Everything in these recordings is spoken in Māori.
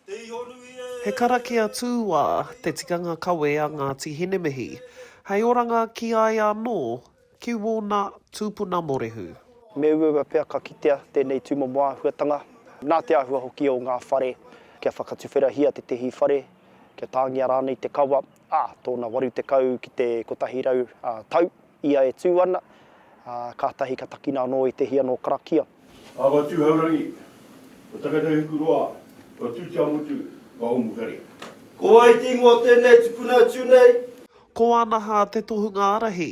He karakia tūā te tikanga kawe a Ngāti Hinemihi, hei oranga ki a ia anō, ki wōna tūpuna morehu. Me uaua pea ka kitea tēnei tūmomo āhuatanga, nā te āhua hoki o ngā whare kia whakatuwherahia tētehi whare, kia tāngia rānei te kawa, ā, tōna 80 ki te 100 tau. Ia e tū ana, ā, kātahi ka takina anō i te hia nō karakia. Awa Tūhourangi, ko Takatauhukuroa, ko Tūteamotu, ko Ōmukare. Ko wai te ingoa o tēnei tupuna atu nei? Ko Wānaha te tohunga ārahi.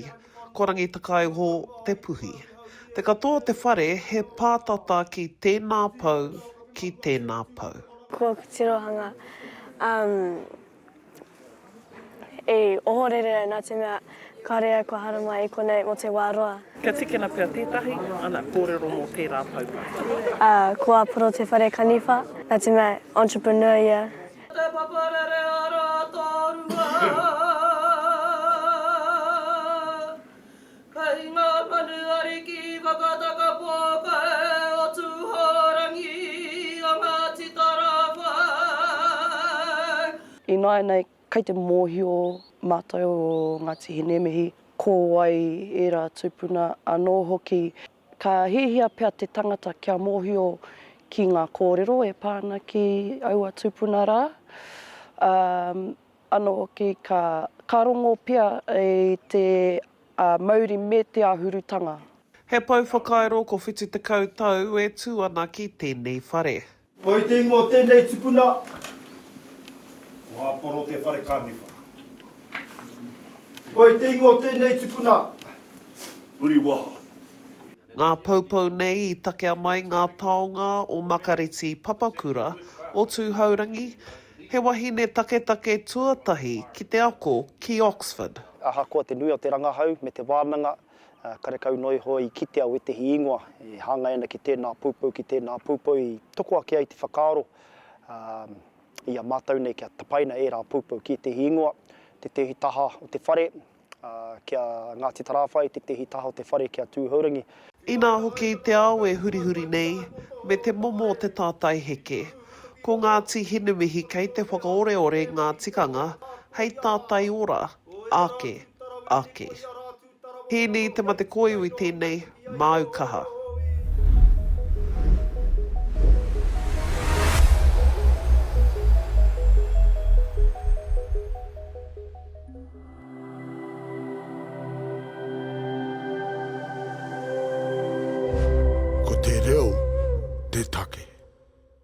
Ko Rangitakaiho te puhi. Te katoa o te whare he pātata ki tēnā pou, ki tēnā pou. Ko Kutirohanga, ā, E ohorere au nā te mea kāore au kua haramai i konei mō te wā roa. Kia tīkina pea tētahi, ana, kōrero mō tērā poumahi. Ā, ko ā Poro Te Wharekaniwha, nā te mea entrepreneur ia. Te Papa Rere a Rātārua. Kei ngā manu ariki whakatakapō koe o Tūhourangi a Ngāti Tarāwhai. Ināianei, kei te mōhio mātou o Ngāti Hineimihi, ko wai ērā tūpuna anō hoki. Ka hiahia pea te tangata kia mōhio ki ngā kōrero e pā ana ki aua tūpuna rā, ā, Anō hoki ka, ka rongo pea i te mauri me te āhurutanga. He pou whakairo ko whitu tekau tau e tū ana ki tēnei whare. Ko i te ingoa o tēnei tipuna, ko Haporo te whare kaniwha. Ko i te ingoa o tēnei tipuna, Uriwaha. Ngā poupou nei i takea mai ngā taonga o Makareti Papakura, o Tūhourangi, He wahine taketake tuatahi ki te ako ki Oxford. Ahakoa te nui o te rangahau me te wānanga, karekau noa iho i kitea wētehi ingoa e hāngai ana ki tēnā poupou, ki tēnā poupou i toko ake ai te whakaaro i a mātou nei kia tapaina ērā poupou ki ētehi ingoa, tētehi taha o te whare, Ki a Ngāti Tarāwhai, i tētehi taha o te whare ki a Tūhourangi. Inā hoki te ao e hurihuri nei, me te momo o te tātai heke. Ko Ngāti Hinumihi kei te whakaoreore ngā tikanga hei tātai ora, ake, ake. Hīni Te Matekōiwi tēnei, Māu kaha. Ko te reo te take.